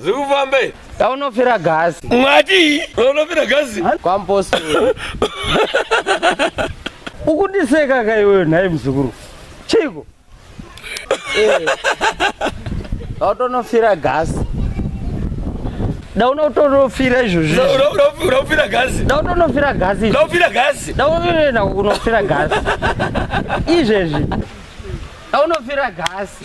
zvikufamba izvi taunofira gasi mwati unofira gasi kwampostori ukundiseka ka iwewe nhai muzukuru chiiko tautonofira gasi daunotonofira izvozvi unofira gasi dautonofira gasi izvi. unofira gasi daunoenda kunofira gasi izvezvi daunofira gasi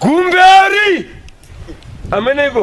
Gumberi! Ameneiko?